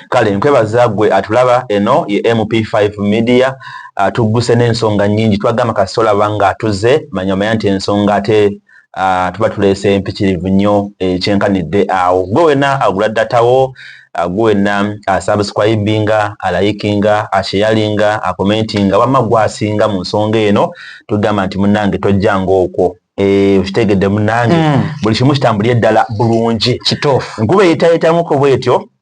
kale nkwebaza gwe atulaba eno ye mp5 media uh, tugguse n'ensonga nyingi twagamba kasita olaba nga atuze manya omanya nti ensonga ate uh, tuba tuleese empikirivu nnyo ekyenkanidde eh, awo gwe wena agula datawo uh, gwe wena asubscribinga uh, alayikinga asheyalinga uh, akomentinga uh, wamma gwasinga mu nsonga eno tugamba nti munange tojja ngaokwo Eh, okitegedde munange hmm. buli kimu kitambulye ddala bulungi kituufu nkuba eyitayitamuko bwetyo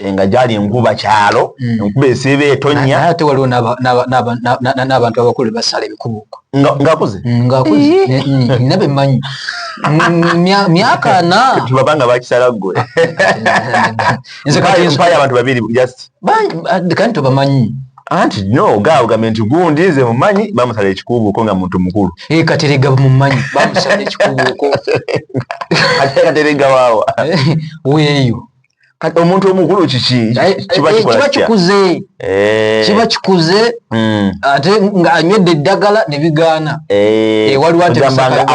Eh, nga gyali enkuba kyalo mm. enkuba esiiba etonya ate waliwo n'abantu abakulu basala ebikubo ngakuze mm, ngakuze mm, nabe manyi myaka na tubaba nga bakisala gwe nze kati nsukaya abantu babiri just kandi tubamanyi anti no ga ogambe nti gundi nze mumanyi bamusala ekikubuuko nga muntu mukulu e, katerega mumanyi bamusala ekikubuuko katerega waawa eh, weeyo kati omuntu omukulu kiki eh, eh, kiba eh, kikuze kiba kikuze hmm. ate nga anywedde eddagala ne bigaana waliwo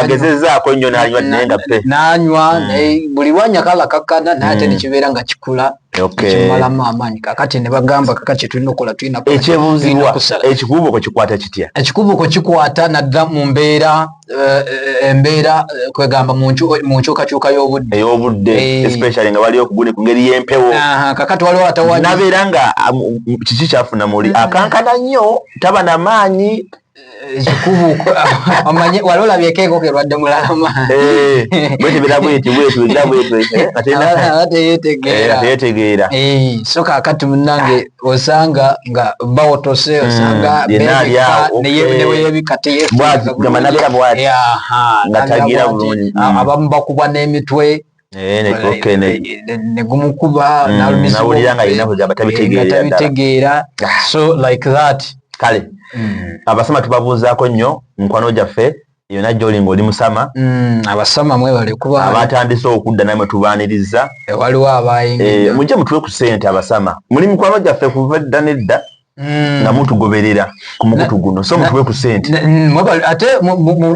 agezezaako nnyo nanywa naye nga pe nanywa hmm. naye buli lwanya kalakakkana naye ate hmm. nekibeera nga kikula kimalamu amaanyi kakati ne bagamba kaka kyetulina okukola tulinaekyebuuzibwa ekikubuuko kikwata kitya ekikubuuko kikwata nadda mu mbeera Eh, eh, embeera eh, kwegamba mu nkyukakyuka y'obudde ey'obudde especially nga waliwo kuguni ku ngeri y'empewo kakati waliwo atawali nabeera nga um, kiki kyafuna muli mm. akankana nnyo taba na maanyi ekikubuko omanyi wali olabyeko enkoko erwadde mulalama bwetebera bweti bwetwera bwetwera nga teyetegeera so kakati munange osanga nga bawotose hmm, osanga neyebikateyebwagambanabeera bwati nga tagira bulungi ah, hmm. abamu bakubwa n'emitwe eh, negumukuba hmm, nalumizitabitegeera eh, ah. so like that kale abasoma tubabuuzaako nnyo mukwano gyaffe yona joli nga oli musama mm, abasama mwebale kuba abatandise okudda namwe tubaniriza e, waliwo abayingi e, mujje mutuwe ku sente abasama muli mikwano gyaffe kuva edda nedda mm. nga mutugoberera ku mukutu guno so mutuwe ku sente ate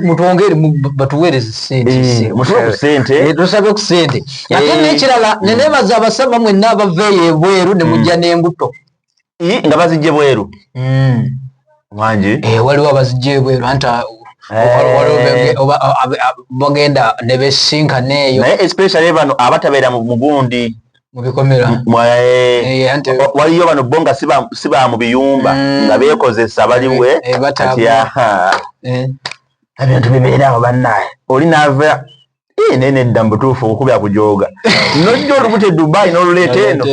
mutwongere batuweereze sente eh, mutuwe ku sente eh, tusabe ku sente ate eh. nekirala nenebaza abasama mwenna abaveeyo ebweru ne mujja mm. n'embuto nga bazijje bweru hmm. wangi eh, waliwo abazijje bweru anti Eh. bagenda nebesinkana eyo naye especially bano abatabeera mu mugundi mubikomera eh. eh, waliyo bano bo nga si ba mu biyumba mm. nga bekozesa baliwe ebintu bibeerawo bannaye oli nava Eh, nene dda mubutuufu okukubya kujoga nojja olubuto e dubai noluleeta eno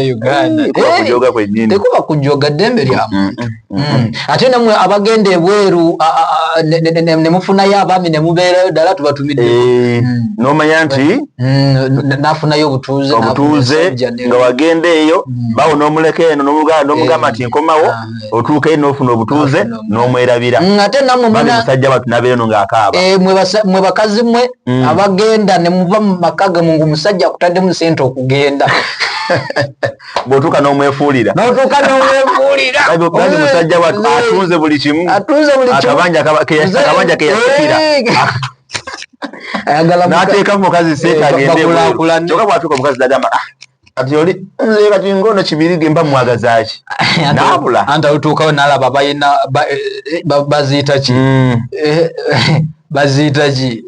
kujoga kwenyini tekuba kujoga ddembe lya mm, muntu mm, mm, ate namwe abagenda ebweru nemufunayo abaami nemubeerayo ddala tubatumidde eh, nomanya nti nafunayo obutuuze obutuuze nga wagenda eyo bawo nomuleka eno nomugamba nti nkomawo ah. otuuka eno ofuna obutuuze n'omwerabira ngate namusajja watu nabeera no ng'akaaba eh, mwe bakazi mwe mm. abagenda ne muva mu maka gamwe ng'omusajja akutaddemu sente okugenda bwotuuka n'omwefuulira notuuka n'omwefuulira bali musajja watu atunze buli kimu atunze buli kimu akabanja akabanja keyasikira n'ateeka mukazi seeta eh, agendebwekyoka bwatuuka omukazi nagamba ah, kati oli nze kati ngono kibirige mba mwagazaki nabula anta utuukawo nalaba bayina eh, baziyita ki mm. eh, baziyita ki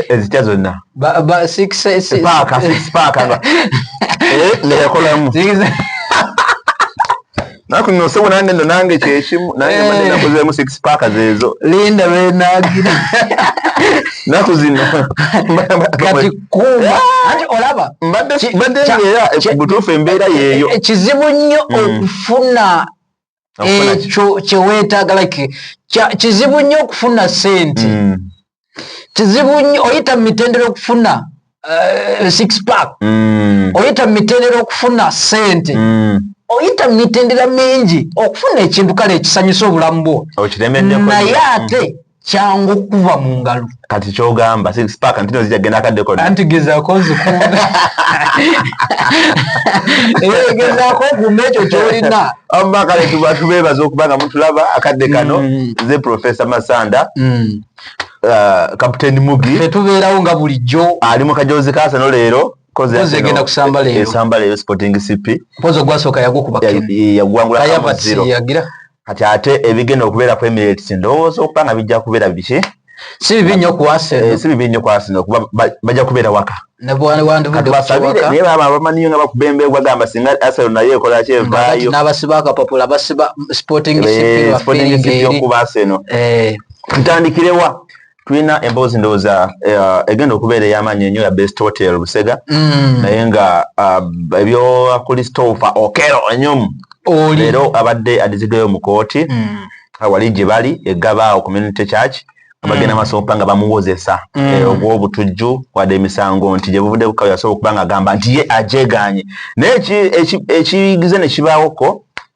ezitya eh, zonna paaka nekolamu naku no sebo nande no nange kyekimu naye eh. mande nakozemu six pack zezo linda we nagira naku zino kati kuma ah! ati olaba mbadde mbadde ngera butufu embeera yeyo eh, kizibu nnyo mm. okufuna ekyo kyeweetaaga like kizibu nnyo okufuna sente mm. kizibu nnyo oyita mu mitendera okufuna uh, six pack mm. oyita mu mitendera okufuna sente mm. oyita mu mitendera mingi okufuna ekintu kale ekisanyusa obulamu bwo naye ate mm. kyangu okuva mu ngalo kati kyogamba sixpack ntino zijagenda akaddeko anti gezako zikunda eh, gezako okuuma ekyo kyolina amakale tuba tubeebaza okuba nga mutulaba akadde kano mm. nze profesa masanda mm. uh, captain mugi tetubeerawo nga bulijjo ali mu kajoozi kaasa no leero egenda kusamba leero esamba leero sporting cp pozo gwasooka yagukuba yagwangula kamuziro kati ate ebigenda okubeera ku emirates ndowooza okuba nga bijja kubeera biki si bibi nnyo ku aseno eh, si bibi nnyo ku aseno kuba bajja kubeera waka naye baba abamaniyo nga bakubemba egwa gamba singa aseno naye ekola kyevaayo n'abasiba akapapula basiba sporting eh, cp okuba aseno eh. tutandikirewa tulina emboozi ndowooza eh, egenda okubeera ey'amaanyi enyo ya best hotel busega mm. naye nga ah, ebyowa christopher okero enyum leero abadde adizigayo mu kooti mm. ah, wali gye bali egabaawo community church abagenda mm. masoopa nga bamuwozesa eh, ogw'obutujju wadde emisango nti gye buvudde bukawe yasobola okuba nga agamba nti ye agyeganye naye ekiyigize ne kibaawoko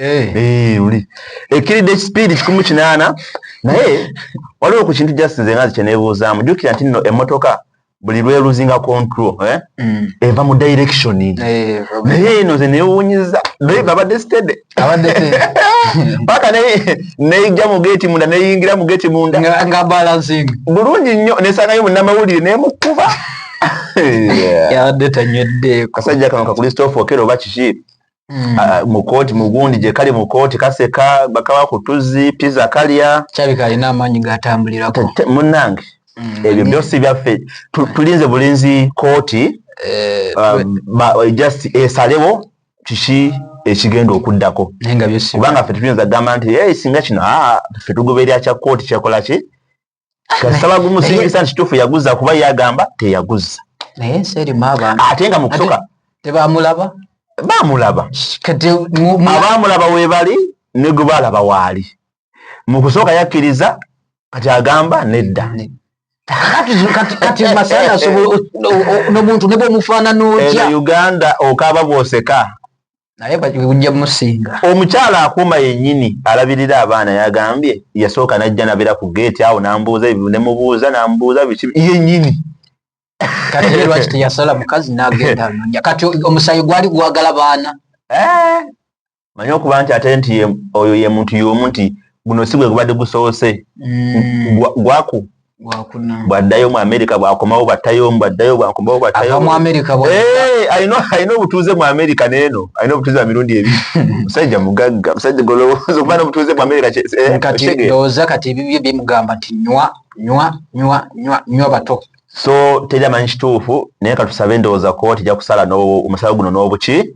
Eh. Eh, ekkiridde ekispiidi kikumu kinaana naye waliwo ku kintu just nze nga kyenebuuzaamu jukira nti nno emmotoka buli lweluzinga control eh? mm. eva mu direction naye eno ze newunyiza drive abadde stede paka neyija mu geti munda neyingira mu geti munda bulungi nnyo nesangayo munamawulire nemukuba yabadde tanywedde kasajja kano kakulistoofu okera oba kiki Mm. Ah, mukooti mugundi gyekali mukooti kaseka bakaba ku tuzzi piza kalya kyabika alina amaanyi gatambulirako munange mm. ebyo byosi byaffe tulinze bulinzi kooti eh, ah, eh, just esalewo kiki ekigenda okuddako kubanga ffe tuyinza gamba nti singa kino ah, ffe tugoberera kya kooti kyakolaki kasaba gumusingisa nti tufu yaguza kuba yagamba teyaguza naye ensi erimu abantu ate nga mukusoka tebamulaba bamulaba abamulaba webali negubalaba waali mukusooka yakkiriza kati agamba nedda kati masala asobola nomuntu nebwomufaanana otya uganda okaaba bwoseka omukyala akuuma yenyini alabirira abaana yagambye yasooka najja nabera ku geeti awo nambuuza ebyo nemubuuza namubuuza biki yenyini katilwaki teyasala mukazi nagenda anonya kati omusayi gwali gwagala baana eh, manye okuba nti ate nti oyo ye muntu yomu nti guno si gwe gubadde gusoose mm. gwaku bwaddayo mu amerika bwakomawo bwattayo bwaddayo bwakomawo bwattayoalina obutuuze mu amerika neeno alina obutuuze wa mirundi ebi musajja mugagga musajja golowooza okuba nobutuuze mu amerika kyeoza eh, kati ebibyo bimugamba nti nywa nywa nywa nywa nywa bato so teri amanyi kituufu naye katusabe endowooza kuba tija kusala omusala guno n'obuki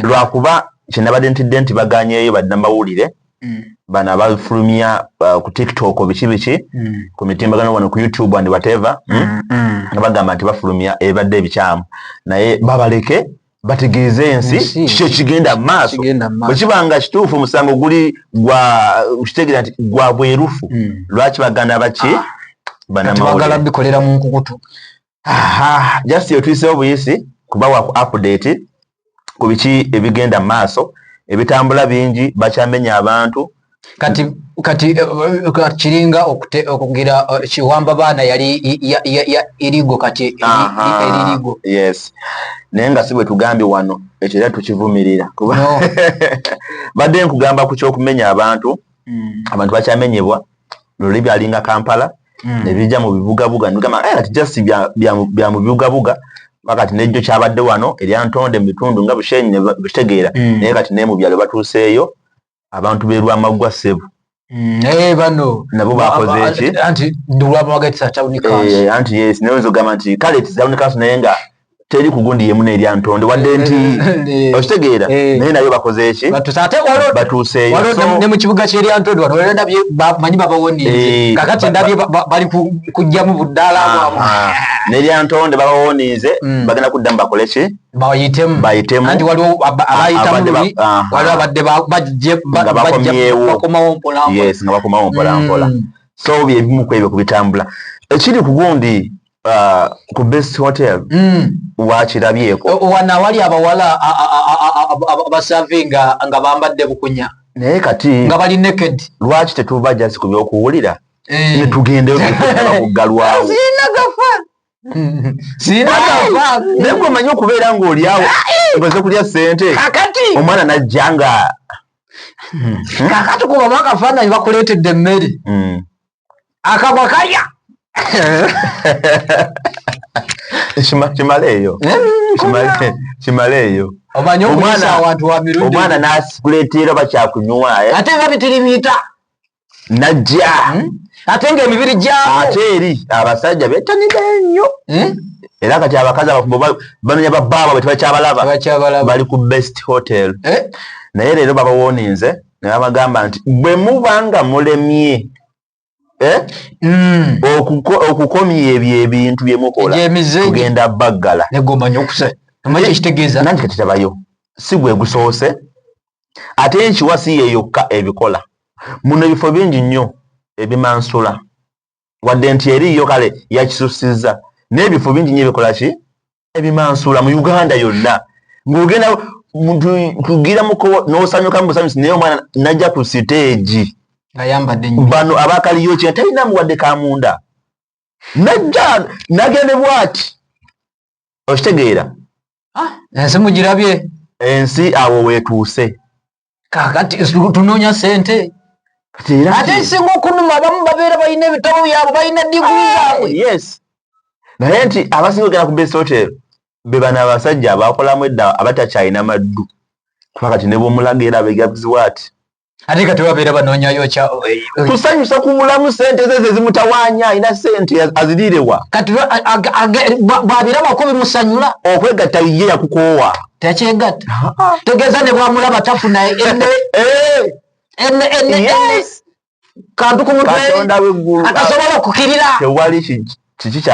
lwakuba kyenabadde ntidde nti baganyeeyo badde namawulire mm. bana balifulumya uh, ku tiktok biki biki mm. ku mitimbagano wano ku youtube and whatever mm, mm, mm. nga bagamba nti bafulumya ebadde ebikyamu naye babaleke bategeeze ensi kiki ekigenda mu maaso bwe kiba nga kituufu omusango guli kitegeera nti gwa bwerufu lwaki baganda baki ah. banamawulire bagala bikolera mu nkukutu aha just yotuyisewo buyisi kubawa ku update ku biki ebigenda mu maaso ebitambula bingi bakyamenya abantu kati kati eh, eh, kiringa okugira eh, kiwamba baana yali irigo kati eririgo yes naye nga si bwe tugambye wano ekyo era tukivumirira kuba badde nkugamba ku kyokumenya abantu hmm. abantu bakyamenyebwa luli byalinga kampala mm. nebija mu bibugabuga nigamba eh, ati just bya mu bibugabuga wakati nejjo kyabadde wano erya ntonde mu bitundu nga bushenyi nebitegeera mm. naye kati naye mu byalo batuuseeyo abantu berwamaggwa ssebu mm, naye bano nabo bakozeeki anti nolwabawagatisatawunikaanti eh, yes naye nzogamba nti kale tisawunikaansi naye nga teri kugundi yemu nerya ntonde wadde nti okitegeera naye nayo bakoze eki batuuseeyone mu kibuga kyerya ntonde wano era ndabye manyi babawonize kakati ndabye bali kujjamu buddaala bwamu nerya ntonde babawonize mm. bagenda kuddamu bakole ki bayitemu bayitemu anti waliwo abayitamu lubi waliwo abadde bakomawo mpolampola nga bakomawo mpolampola mm. so byebimu kwebyo kubitambula ekiri kugundi uh, ku best hotel mm. wakirabyeko wana wali abawala abasavinga nga bambadde bukunya naye kati nga bali naked lwaki tetuva jasi ku byokuwulira eh. netugendeokuggalwawo naye gwe omanyi okubeera ng'olyawo omaze kulya ssente omwana najja nga kakati kubamu akafaananyi bakuleetedde emmere hmm. akagwa kalya kimaleeyo eh, kimaleeyo omanyi omwana awantu wa mirundi omwana nasikuleteera bakyakunywa eh? ate nga bitirimiita najja hmm? ate nga emibiri gyabo ate eri abasajja betanide nnyo hmm? era kati abakazi abafumbo bamenya babaabwe tebakyabalaba bali ku best hotel eh? naye leero babawoninze nabagamba nti bwe muba nga mulemye eh, mm. okukomya ebyo ebintu bye mukola kugenda baggala nanti katitabayo si gwe gusoose ate enkiwa si yeyokka ebikola muno ebifo bingi nnyo ebimansula wadde nti eriiyo kale yakisussizza n'ebifo bingi nyo ebikola ki ebimansuula mu uganda yonna ng'ogenda kugira muko n'osanyuka mu busanyusi naye omwana najja ku siteegi bano abakaliyo kina talina muwadde ka munda najja nagende bwati okitegeera ah, ensi mugirabye ensi awo weetuuse kakati tunonya sente ate ekisinga okunuma abamu babeera balina ebitabo byabwe balina diguli ah, zabwe yes naye nti abasinga ogenda ku best hotel bebana abasajja abakolamu edda abatakyalina maddu kuba kati nebwomulaga era begabziwa ati ate kati babeera banonyayo kusanyusa eh, eh, kubulamu sente ze zezimutawanya alina sente azirirewa kati bwabirabako bimusanyula okwegatta ye yakukoowa takyegatta tegeeza ne bwamulaba tafuna enne enne enne enne kantu ku mutwe atasobola okukirira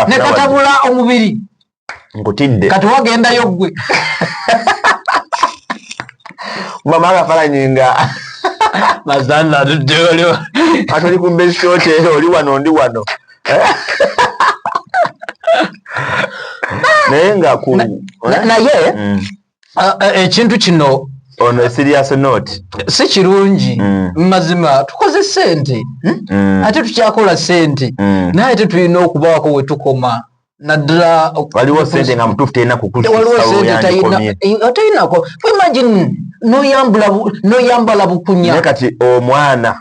ne katabula omubiri nkutidde kati wagendayo ggwe mama akafalanyi nga mazana tuddeyolio atuli ku mbesitote oli wano ndi wano naye nga ku naye mm. ekintu kino ono serious note si kirungi mm. mazima tukoze sente hmm? mm. ate tukyakola sente naye ate tulina okubaako wetukoma naddala waliwo sente nga mutuufu terina kukulisaoyandikomeaterinako eh, imagine noyambala bukunya naye kati omwana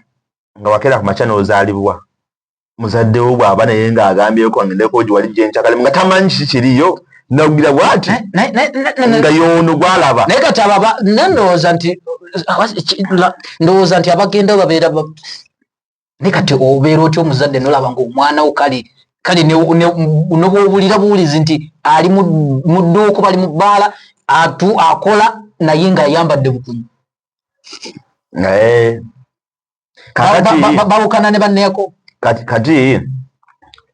nga wakera ku makya nozaalibwa muzadde wo bwaba naye nga agambyeko ngendeko giwali gyenkyakale nga tamanyi kiki kiriyo nagira bwati nga yono gwalaba naye kati ababa nandowooza nti ndowooza nti abagenda babeera naye kati obeera otya omuzadde nolaba nga omwana wo kale kale nobwobulira buwulizi nti ali mu dduuku bali mu bbaala atu akola naye nga ayambadde bukumu naye bawukana ne banneeko kati kati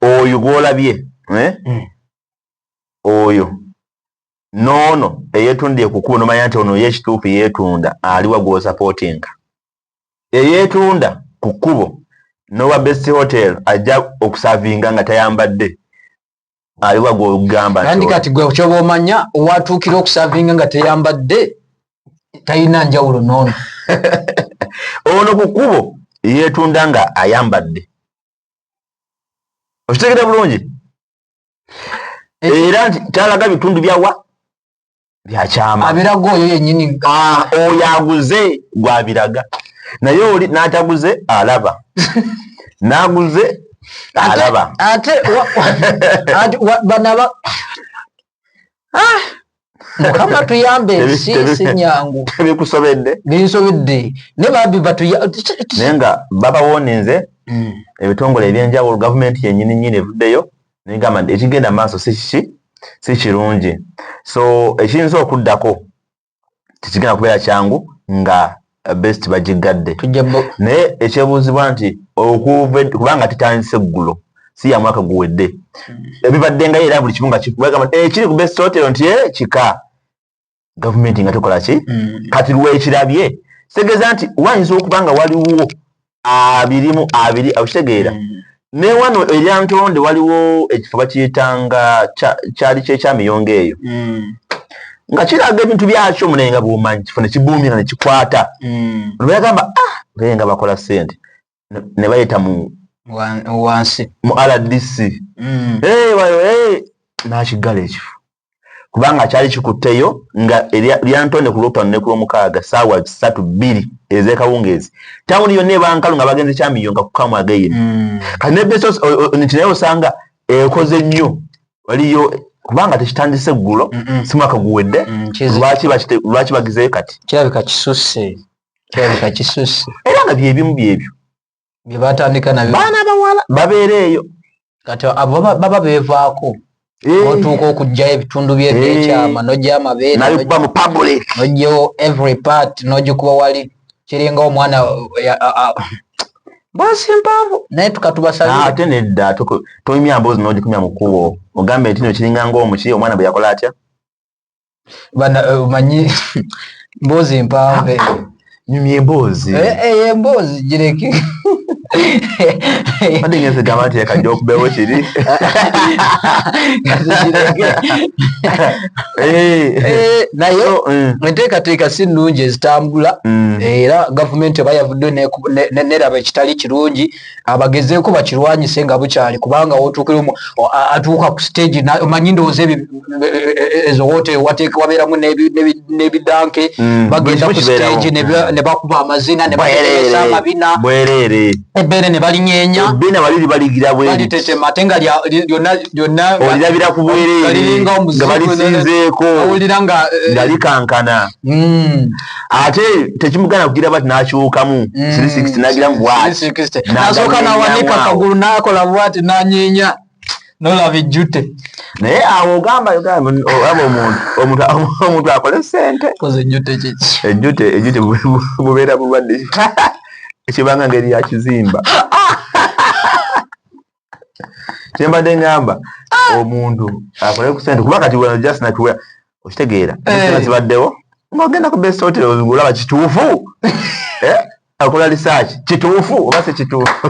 oyo gwolabye eh? hmm. oyo noono eyetundiye kukuba nomanya nti ono yekituufu yetunda aliwa gwosapootinga eyetunda ku kkubo nowa best hotel ajja okusavinga nga tayambadde aliwa gwogamba nandi kati gwe kyoba omanya owatuukira okusavinga nga teyambadde talina njawulo noono ono ku kkubo yeetunda nga ayambadde okitegera bulungi era nti talaga bitundu byawa byakyama abiraga oyo yenyini ah, oyo aguze gwabiraga naye oli nataguze alaba naguze alaba ate banaba ah! mukama tuyambe ensi sinyangu bikusobedde binsobedde ne babi batunaye nga babawoninze hmm. ebitongole ebyenjawulo gavumenti yenyini nyini evuddeyo negamba nti ekigenda maaso sikiki si kirungi so ekiyinza okuddako tekigenda kubeera kyangu nga best bagiggadde naye ekyebuuzibwa nti okuva kubanga tutandise eggulo si ya mwaka guwedde hmm. ebibaddengayo era buli kimu nga kikubagamba ekiri ku best hotel nti eh, kika gavumenti nga tukola ki mm. kati lwekirabye kitegeeza nti wayinza okuba nga waliwo abirimu abiri okitegeera mm. ne wano erya ntonde waliwo ekifo bakiyitanga kyali kyekyamiyongo eyo mm. nga kiraga ebintu byakyo munaye nga bwomanyi kifo nekibuumira nekikwata lweyagamba ah, nga bakola sente ne bayita mu wansi mu rdc mm. nakiggala ekifo kubanga kyali kikutteyo nga lyantonde ku lwokutano ne ku lwomukaaga saawa satu bbiri ezekawungeezi tawuni yonna ebankalu nga bagenze kyamiyo nga kukamu ageyini mm. kati nebnti naye osanga ekoze nnyo waliyo kubanga tekitandise ggulo si mwaka guwedde mm, lwaki bagizeyo kati kirabika kisusse kyaleka kisusse era nga byebimu byebyo byebatandika nabyo baana bawala babeera eyo kati abo baba bevaako eh. otuuka okugyayo ebitundu byekyama eh. nogyayo amabeerekuba mu public nogyawo every part nogikuba wali kiringa omwana basi mpavu naye tukatubasaate ah, nedda tomya mbozi nogikumya mukubo ogambe nti no kiringa ngaomuki omwana bwe yakola atya bana eh, omanyi mboozi mpanve nyumya emboozi eh, eh, emboozi gireke Ade ngeze gamba nti yaka joke bewe chiri. Eh, eh nayo nteka mm. teka si nunje zitambula mm. era government bayavudde ne ne ne rabe kitali kirungi abagezeeko bakirwanyise nga bukyali kubanga wotuukira atuuka ku stage omanyi ndowooza e, e, ezo woteri wateeka wabeeramu n'ebidanke mm, bagenda ku stage mm. ne bakuba amazina ne baeesa amabina bwereere ebbeere ne balinyenya ebbina bali libaligira bweritetema ate nga lyonna lyonna olirabira ku bwereere nga balisinzeeko awulira nga eh, likankana mm. ate tekimugana kugira bati nakyukamu mm. nagira mubwatinasoka nawanika kagulu nakola bwati nanyinya nolaba ejjute naye awo ogamba ogamba omuntu omuntu akole sente ejjute ejjute bubeera bulwadde ekibanga ngeri yakizimba kyembadde ngamba ah! omuntu akole ku sente kuba kati wena just natuwea okitegeera eh. zibaddewo ngaogenda ku best hotel olaba kituufu eh? akola research kituufu oba si kituufu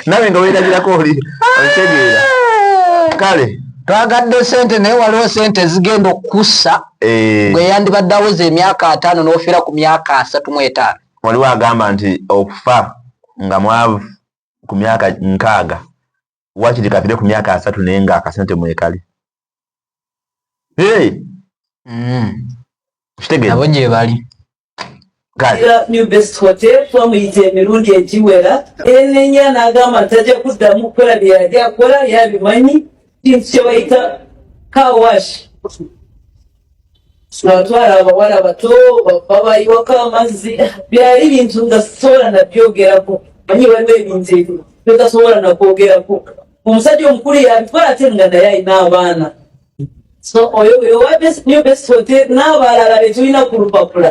nawe nga werabirako oli okitegeera ah! kale twagadde sente naye waliwo sente ezigenda okukussa eh. gwe yandibadde aweza emyaka ataano n'ofiira ku myaka asatu mu etaano waliwo agamba nti okufa nga mwavu ku myaka nkaaga wakiri kafire ku myaka asatu naye nga akasente mwekali hey! mm. kitegabo gyebali new best hotel twamuyita emirundi egiwera enenya n'agamba nti tajja kuddamu kukola bye yali akola yabimanyi kintu kye bayita kawashi twatwala abawala bato babayiwako amazzi byali bintu nga sisobola nabyogerako manyi waliwo ebintu ebyo byotasobola nakwogerako omusajja omukulu yabikola ate nga naye alina abaana so oyo oyo wa new best hotel n'abalala betulina ku lupapula